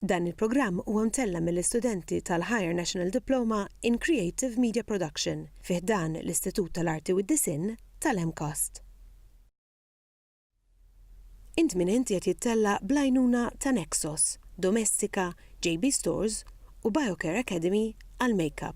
Dan il-programm huwa mtella' mill-istudenti tal-Higher National Diploma in Creative Media Production fi ħdan l-Istitut tal-Arti u d-Disinn tal-MCAST. Int Min Int qiegħed jittella' bl-għajnuna ta' Nexos, Domestika, JB Stores u Biocare Academy għall-Makeup.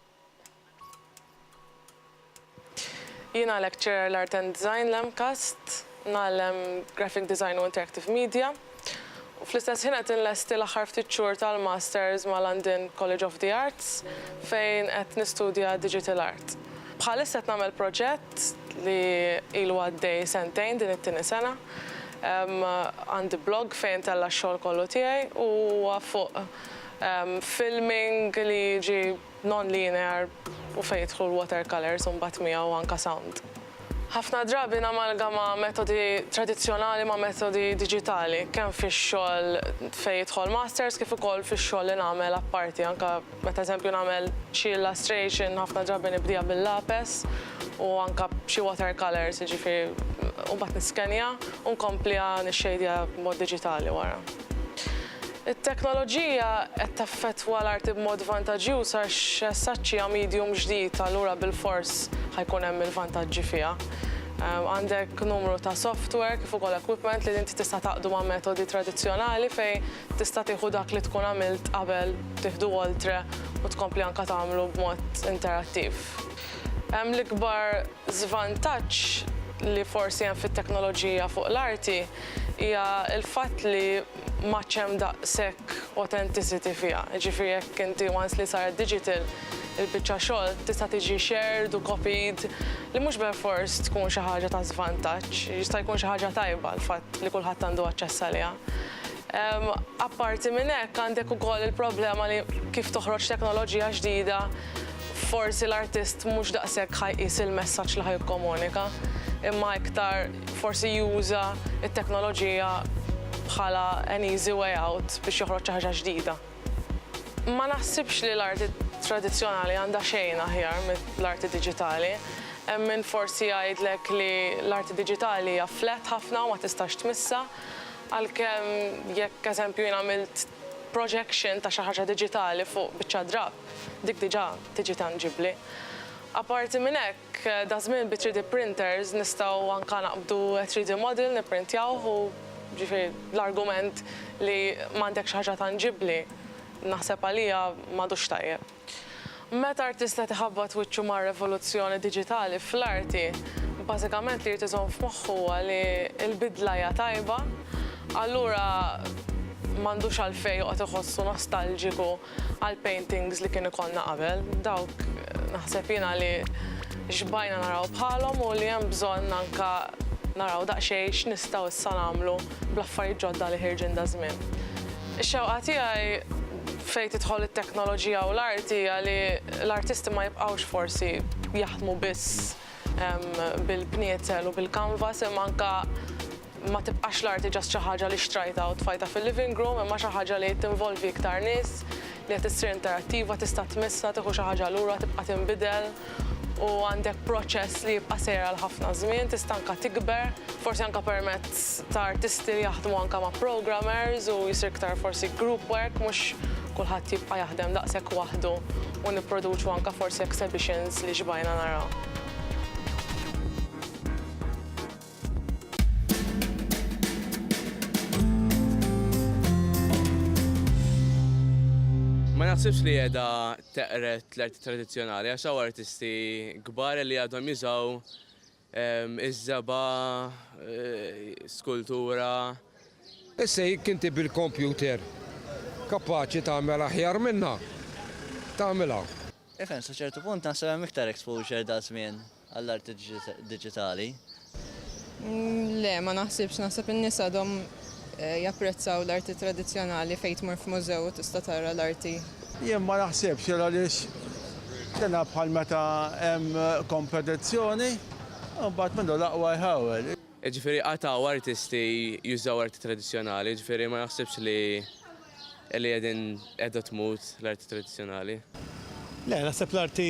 Jiena lecturer l-Art and Design l-MCAST, ngħallem Graphic Design u Interactive Media, u fl-istess ħin qed inlesti l-aħħar ftit xhur tal-Masters ma' London College of the Arts fejn qed nistudja Digital Art. Bħalissa qed nagħmel proġett li ilu għaddej sentejn din it-tieni sena. Għandi blog fejn intella' x-xogħol kollu tiegħi u huwa fuq Filming li jiġi non-linear u fejn jidħlu l-watercolours u mbagħad miegħu anke sound. Ħafna drabi namalgama metodi tradizzjonali ma' metodi diġitali, kemm fix-xogħol fejn jidħol masters kif ukoll fix-xogħol li nagħmel apparti, anke meta eżempju nagħmel xi illustration ħafna drabi nibdieha bil-lapes u anke b'xi watercolours, jiġifieri u mbagħad niskenja u nkompliha nixxejdiha b'mod diġitali wara. It-teknoloġija qed taffettwa l-arti b'mod vantaġġjuż għax saċċi hija medium ġdid allura bilfors ħa jkun hemm il-vantaġġi fiha. Għandek numru ta' software kif ukoll equipment li inti tista' tgħaqqdu ma' metodi tradizzjonali fejn tista' tieħu dak li tkun għamilt qabel tieħdu oltre u tkompli anke tagħmlu b'mod interattiv. L-ikbar żvantaġġ li forsi hemm fit-teknoloġija fuq l-arti hija l-fatt li m'għadx hemm daqshekk authenticity fiha. Jiġifieri jekk inti once li saret digital, il-biċċa xogħol tista' tiġi shared u copied li mhux belfors tkun xi ħaġa ta' żvantaġġ, jista' jkun xi ħaġa tajba l-fatt li kulħadd għandu aċċess għaliha. Apparti minn hekk għandek ukoll il-problema li kif toħroġ teknoloġija ġdida forsi l-artist mhux daqshekk ħa jqis il-messaġġ li ħa jikkomunika imma iktar forsi juża t-teknoloġija bħala an easy way out biex joħroġ xi ħaġa ġdida. Ma naħsibx li l-arti tradizzjonali għandha xejn aħjar mill-arti diġitali. Hemm min forsi jgħidlek li l-arti diġitali hija flat ħafna u ma tistax tmissha, għalkemm jekk eżempju jien għamilt projection ta' xi ħaġa diġitali fuq biċċa drapp, dik diġà tiġi tanġibbli. Apparti minn hekk, Daż-żmien bi 3D printers nistgħu anke naqbdu 3D model nipprintjawh u jiġifieri l-argument li m'għandek xi ħaġa tanġibbli naħseb għalija m'għadux tajjeb. Meta artist qed iħabbat wiċċu mar-revoluzzjoni diġitali fl-arti, bażikament li jrid iżomm f'moħħu huwa li l-bidla hija tajba, allura m'għandux għalfejn joqgħod iħossu nostalġiku għal paintings li kien ikollna qabel, dawk naħseb jiena li xbajna naraw bħalhom u li hemm bżonn anke naraw daqsxejn x'nistgħu issa nagħmlu bl-affarijiet ġodda li ħirġin daż-żmien. Ix-xewqa tiegħi fejn tidħol it-teknoloġija u l-art hija li l-artisti ma jibqgħux forsi jaħdmu biss bil-bniezel u bil-kanvas imma anke Ma tibqax l-arti just xi ħaġa li xtrajtha u tfajtha fil-living room imma xi ħaġa li tinvolvi iktar nies, li qed issir interattiva, tista' tmissha, tieħu xi ħaġa lura, tibqa' tinbidel u għandek proċess li jibqa' sejjer għal ħafna żmien, tista' anke tikber, forsi anke permezz ta' artisti li jaħdmu anke ma' programmers u jsir iktar forsi group work mhux kulħadd jibqa' jaħdem daqshekk waħdu u nipproduċu anke forsi exhibitions li xbajna naraw. Ma naħsibx li qiegħda teqret l-arti tradizzjonali għax hawn artisti kbar li għadhom jużaw ehm, iż-żeba, eh, skultura. Issa jekk inti bil-kompjuter kapaċi tagħmel aħjar minna, tagħmilha. Ifen, sa ċertu punt naħseb hemm iktar exposure da' żmien. għall-arti diġitali? Le, ma naħsibx. Naħseb in-nies għadhom japprezzaw l-arti tradizzjonali fejn tmur f'mużew u tista' tara l-arti. Jien ma naħsibx hekk għaliex dina bħal meta hemm kompetizzjoni u mbagħad min hu l-aqwa jħawel. Jiġifieri qatgħu artisti jużaw arti tradizzjonali, jiġifieri ma naħsibx li. Li qegħdin qiegħda tmut l-arti tradizzjonali? Le, naħseb l-arti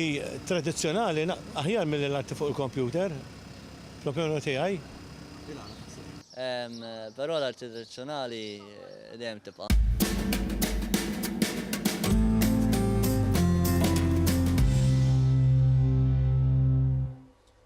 tradizzjonali aħjar milli l-arti fuq il-kompjuter, fl-opinjoni tiegħi. Però l-arti tradizzjonali dejjem tibqa'.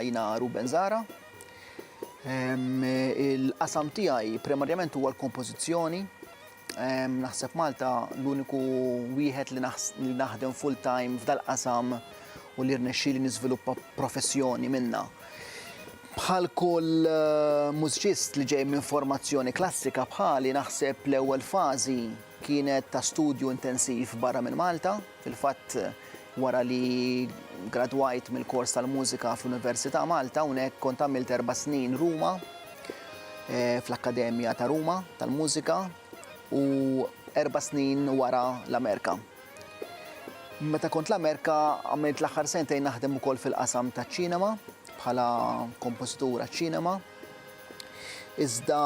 Jiena Ruben Zara. Il-qasam tiegħi primarjament huwa l-kompożizzjoni, Naħseb Malta l-uniku wieħed li naħdem full time f'dal-qasam u li rnexxieli niżviluppa professjoni minna. Bħal kull eh, mużċist li ġej minn formazzjoni klassika bħali naħseb l-ewwel fażi kienet ta' studju intensiv barra minn Malta. Fil-fatt, wara li gradwajt mill-kors tal-mużika fl-Università Malta, hawnhekk kont għamilt erba' snin Ruma, eh, fl-Akkademja ta' Ruma tal-Mużika u erba' snin wara l-Amerika. Meta kont l-Amerika għamilt l-aħħar sentejn naħdem ukoll fil-qasam taċ-ċinema bħala kompożitur għaċ-ċinema. Iżda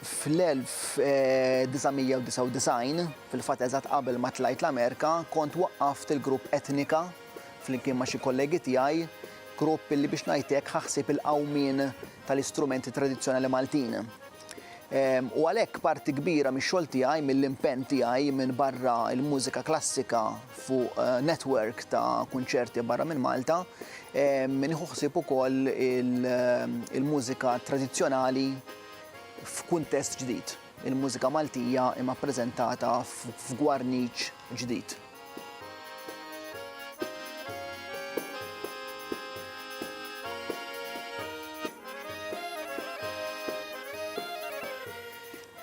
Fl-1999, fil-fatt eżatt qabel ma tlajt l-Amerika, kont waqqaft il-grupp Etnika flimkien ma' xi kollegi tiegħi, grupp li biex ngħid hekk ħa ħsieb il-qawmien tal-istrumenti tradizzjonali Maltin. U għalhekk parti kbira mix-xogħol tiegħi, mill-impenn tiegħi minbarra l-mużika klassika fuq network ta' kunċerti barra minn Malta, nieħu ħsieb ukoll il-mużika tradizzjonali, f'kuntest ġdid. Il-mużika Maltija imma ppreżentata f'gwarniċ ġdid.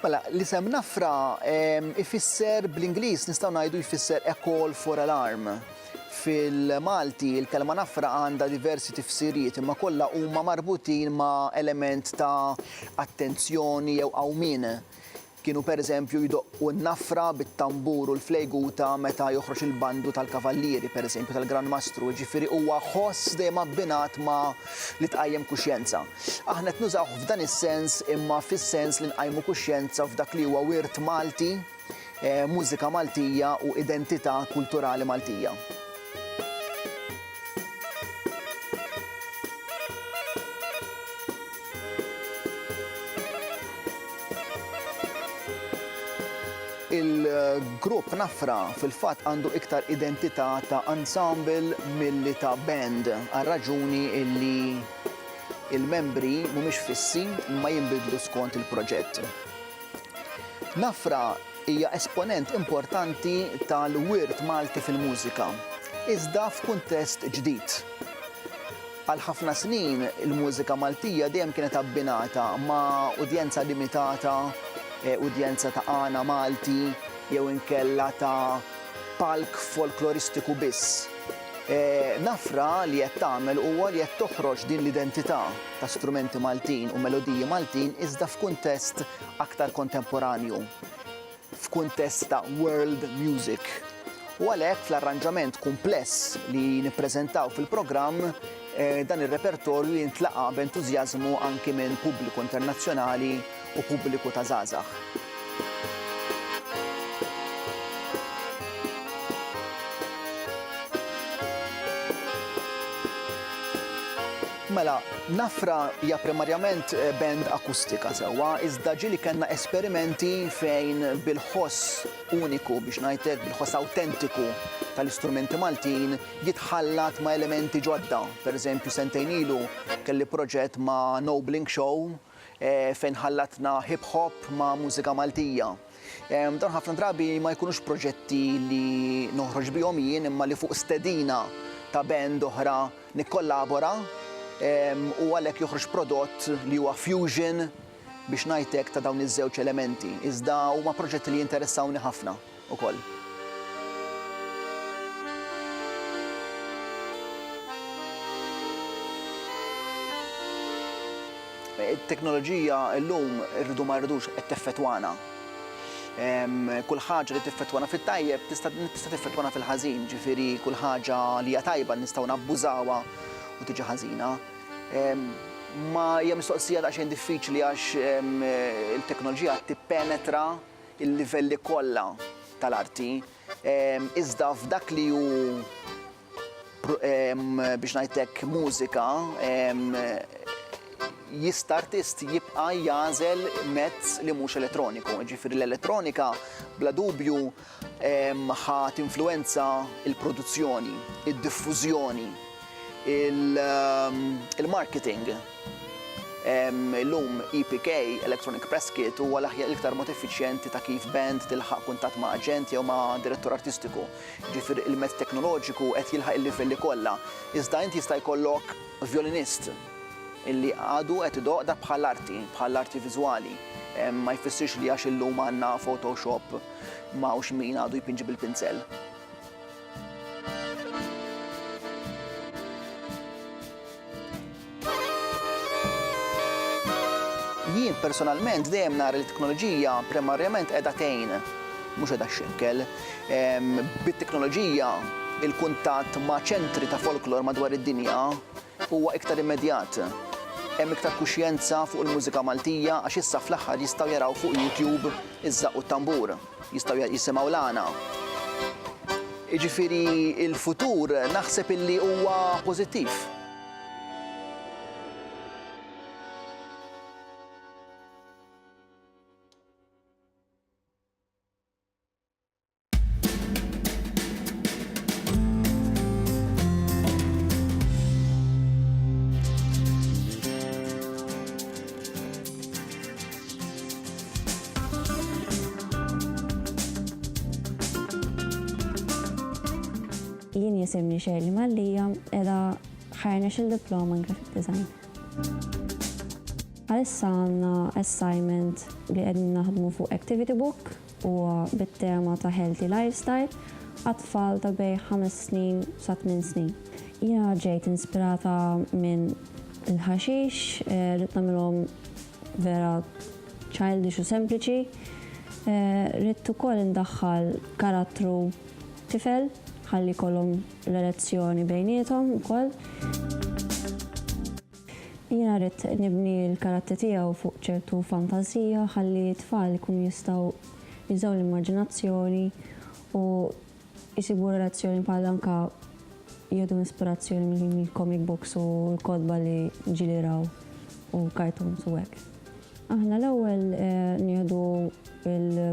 Mela, l-isem Nafra ifisser bl-Ingliż nistgħu ngħidu jfisser a call for alarm. Fil-Malti, il-kelma nafra għandha diversi tifsiriet imma kollha huma marbutin ma' element ta' attenzjoni jew qawmien. Kienu pereżempju jdoqqu n-nafra bit-tambur u l-flejguta meta joħroġ il-bandu tal-kavallieri, pereżempju tal-Gran Mastru, jiġifieri huwa ħoss dejjem abbinat ma' li tqajjem kuxjenza. Aħna qed nużawh f'dan is-sens imma fis-sens li nqajmu kuxjenza f'dak li huwa wirt Malti, mużika Maltija u identità kulturali Maltija. il-grupp Nafra fil-fatt għandu iktar identità ta' ensemble milli ta' band għal-raġuni illi il-membri mhumiex fissi ma jinbidlu skont il-proġett. Nafra hija esponent importanti tal-wirt Malti fil-mużika, iżda f'kuntest ġdid. Għal ħafna snin, il-mużika Maltija dejjem kienet abbinata ma' udjenza limitata, udjenza ta' għana Malti jew inkella ta' palk folkloristiku biss. Nafra li qed tagħmel huwa li qed toħroġ din l-identità ta' strumenti Maltin u melodiji Maltin iżda f'kuntest aktar kontemporanju, f'kuntest ta' world music. U għalhekk fl-arranġament kumpless li nippreżentaw fil-programm, dan ir-repertorju jintlaqa' b'entużjażmu anki minn pubbliku internazzjonali u pubbliku ta' żgħażagħ. Mela, Nafra hija primarjament band akustika sewwa, iżda ġieli kellna esperimenti fejn bil-ħoss uniku, biex ngħid hekk, bil-ħoss awtentiku tal-istrumenti Maltin jitħallat ma' elementi ġodda. Pereżempju, sentejn ilu kelli proġett ma' Nobling Show, fejn ħallatna hip hop ma' mużika Maltija. Dawn ħafna drabi ma jkunux proġetti li noħroġ bihom jien imma li fuq stedina ta' band oħra nikkollabora u għalhekk joħroġ prodott li huwa fusion biex ngħid hekk ta' dawn iż-żewġ elementi. Iżda huma proġetti li jinteressawni ħafna. ukoll. It-teknoloġija llum irridu ma rridux qed teffettwana. Kull ħaġa li tiffettwana fit-tajjeb tista' tiffettwana fil-ħażin, ġifieri kull ħaġa li hija tajba nistgħu nabbużawha u tiġi ħażina. Ma hija mistoqsija daqsxejn diffiċli għax il-teknoloġija tippenetra il-livelli kollha tal-arti, iżda f'dak li hu biex ngħidlek mużika, jista' artist jibqa' jagħżel mezz li mhux elettroniku. Jiġifieri l-elettronika bla dubju ħa tinfluwenza l-produzzjoni, id-diffużjoni, il-marketing. Illum EPK, Electronic Press Kit, huwa l-aħjar l-iktar mod effiċjenti ta' kif band tilħaq kuntatt ma' aġent jew ma' direttur artistiku. Jiġifieri il-mezz teknoloġiku qed jilħaq il-livelli kollha. Iżda int jista' jkollok vjolinist li għadu qed idoqq dak bħal arti, bħal arti viżwali. Ma jfissirx li għax illum għandna Photoshop m'hawnx min għadu jpinġi bil-pinzell. Jien personalment dejjem nara li t-teknoloġija primarjament qiegħda tgħin, mhux qiegħda xekkel. Bit-teknoloġija il-kuntatt ma' ċentri ta' folklor madwar id-dinja Huwa iktar immedjat. Hemm iktar kuxjenza fuq il-mużika Maltija għax issa fl-aħħar jistgħu jaraw fuq YouTube iż-żaqq u t-tambur. Jistgħu jisimgħu l-għana. Jiġifieri l-futur naħseb illi huwa pożittiv. Jien jisimni Shirley Mallia, edha ħarna xil diploma in graphic design. Għalissa għanna assignment li għedin naħdmu fuq activity book Huwa bit-tema ta' healthy lifestyle għat-tfal ta' bejn ħames snin sa tmien snin. Jiena ġejt inspirata minn il-ħaxix, ridt nagħmilhom vera childish u sempliċi. Ridt ukoll indaħħal karattru tifel ħalli jkollhom relazzjoni bejniethom ukoll. Jiena ridt nibni l-karattri tiegħu fuq ċertu fantażija ħalli t-tfal ikunu jistgħu jużaw l-immaġinazzjoni u jsibu relazzjoni bħal anka jieħdu ispirazzjoni mill-comic books u l-kotba li ġieli jraw u cartoons u hekk. Aħna l-ewwel nieħdu l.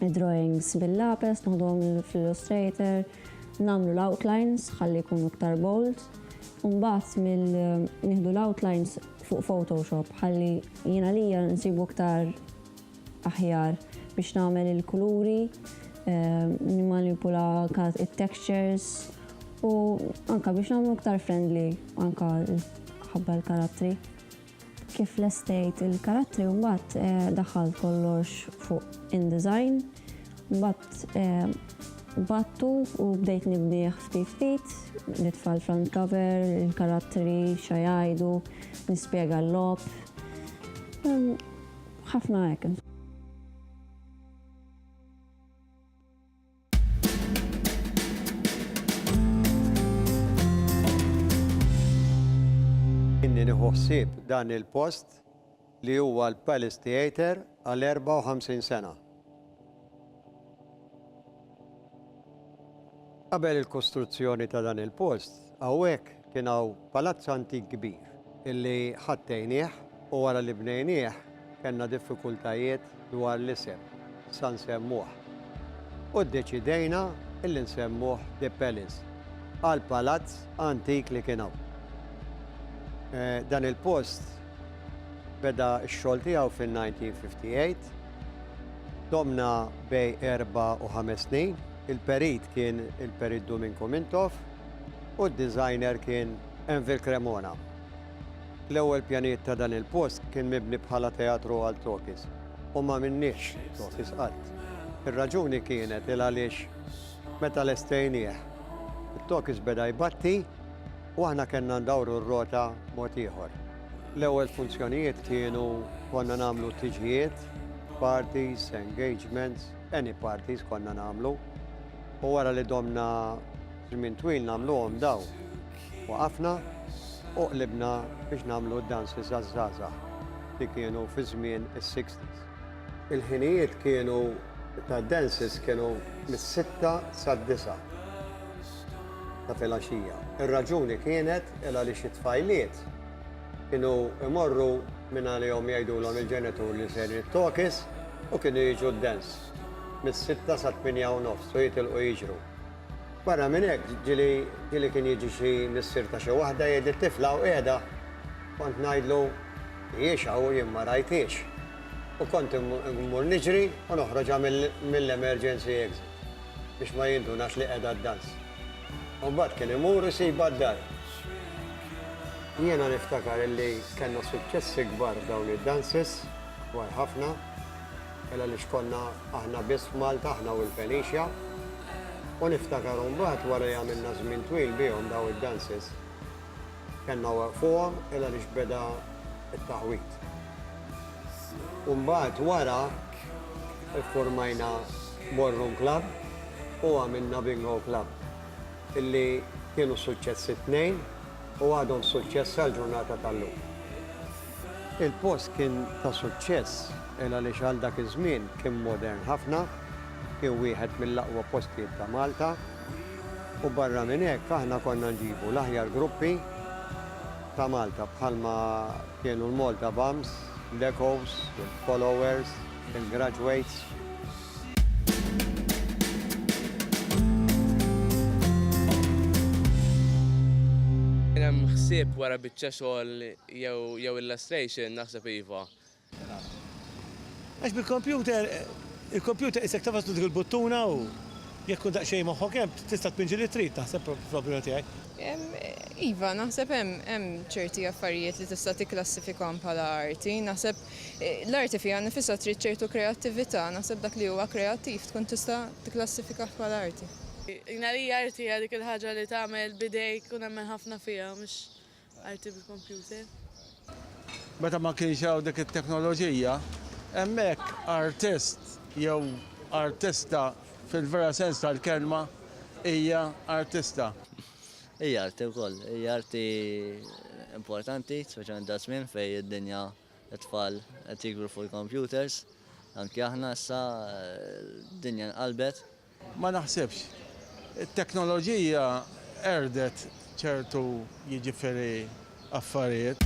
Id-drawings bil-lapes naħduhom fl-Illustrator, nagħmlu l-outlines ħalli jkunu iktar bold, u mbagħad mill nieħdu l-outlines fuq Photoshop ħalli jiena lija nsibu iktar aħjar biex nagħmel il-kuluri, eh, nimmanipula it-textures u anka biex nagħmlu iktar friendly anka ħabba l-karattri. Kif lestejt il-karattri u mbagħad daħħalt kollox fuq InDesign, mbagħad qbadtu u bdejt nibnieh ftit ftit, nitfa' l-front cover, il-karattri, xa jgħidu, nispjega l-logħob, ħafna hekk insomma. Inni nieħu ħsieb dan il-post li huwa l-Palace Theatre għal 54 sena. Qabel il-kostruzzjoni ta' dan il-post, hawnhekk Kien hawn palazz antik kbir illi ħattejnieh u wara li bnejnieh kellna diffikultajiet dwar l-isem sa nsemmuh u ddeċidejna illi nsemmuh The Palace għal palazz antik li kien hawn. Dan il-post beda x-xogħol tiegħu fin-1958. Domna bej erba' u ħames snin. Il-perit kien il-Perit Duminku Mintoff. u d-designer kien Anvil Cremona. L-ewwel pjanijiet ta' dan il-post kien mibni bħala teatru għal tokis u ma minniex tokis qatt. Ir-raġuni kienet il għaliex meta lestejnieh, it-tokis beda jbatti u aħna kellna ndawru r-rota mod ieħor. L-ewwel funzjonijiet kienu konna nagħmlu tiġijiet, parties, engagements, any parties konna nagħmlu. U wara li domna żmien twil nagħmluhom dawn, waqafna u qlibna biex nagħmlu d-danzi żaż-żgħażagħ li kienu fi żmien is-sixties. Il-ħinijiet kienu tad-dances kienu mis-sitta sad-disgħa ta' filgħaxija. Ir-raġuni kienet il għaliex it-tfajliet kienu jmorru minn għalihom jgħidulhom il-ġenitur li sejrin it-tokis u kienu jiġu d-dance. mis-sitta sat-tmienja u nofs u jitilqu jiġru. Barra minn hekk, ġieli ġieli kien jiġi xi missier ta' xi waħda jgħid li t-tifla hawn qiegħda, kont ngħidlu, Hijiex hawn, jien ma rajthiex. U kont immur niġri u noħroġha mill-emergency exit biex ma jindunax li qiegħda ddans. U mbagħad kien imur isibha d-dar. Jiena niftakar illi kellna suċċessi kbar f'dawn id-dances, kbar ħafna. Mela li x'konna aħna biss f'Malta aħna u l-Felicia. U niftakar mbagħad wara li għamilna żmien twil bihom daw id-dances, kellna waqfuhom ela li x'beda t-taħwid. U mbagħad wara ffurmajna ballroom club u għamilna bingo club illi kienu suċċess it-tnejn u għadhom suċċess sal-ġurnata tal-lum. Il-post kien ta' suċċess il għaliex għal dak iż-żmien kien modern ħafna, kien wieħed mill-aqwa postijiet ta' Malta u barra minn hekk aħna konna nġibu l-aħjar gruppi ta' Malta bħalma kienu l-Malta Bums, l-Echoes, il-Followers, il-Graduates. Kien hemm ħsieb wara biċċa xogħol Jew jew illustration naħseb iva. Għax bil-computer, il-computer qisek tafas dik il-buttuna u jekk tkun daqsxejn moħħok hemm tista' tpinġi li trid naħseb fl-opinjoni tiegħi. Iva, naħseb hemm hemm ċerti affarijiet li tista' tikklassifikahom bħala arti. Naħseb l-arti fiha nnifisha trid ċertu kreattività, naħseb dak li huwa kreattiv tkun tista' tikklassifikah bħala arti. Jien għalija arti hija dik il-ħaġa li tagħmel b'idejk u nemmen ħafna fiha mhux Arti bil-kompjuter. Meta ma kienx hawn dik it-teknoloġija, hemmhekk artist jew artista fil-vera sens tal-kelma hija artista. Hi arti wkoll. Hi arti importanti, speċjalment daż-żmien fejn id-dinja, it-tfal qed jikbru fuq il-kompjuters. Anki aħna issa d-dinja nqalbet Ma naħsibx. It-teknoloġija qerdet ċertu jiġifieri affarijiet.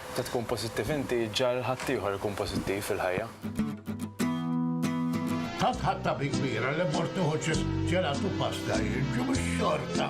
Meta tkun pożittiv inti, iġġagħal ħaddieħor ikun pożittiv fil-ħajja. Tant ħadt tabi kbira li mort nieħu ċis ġelat u pasta jiġu bix-xorta.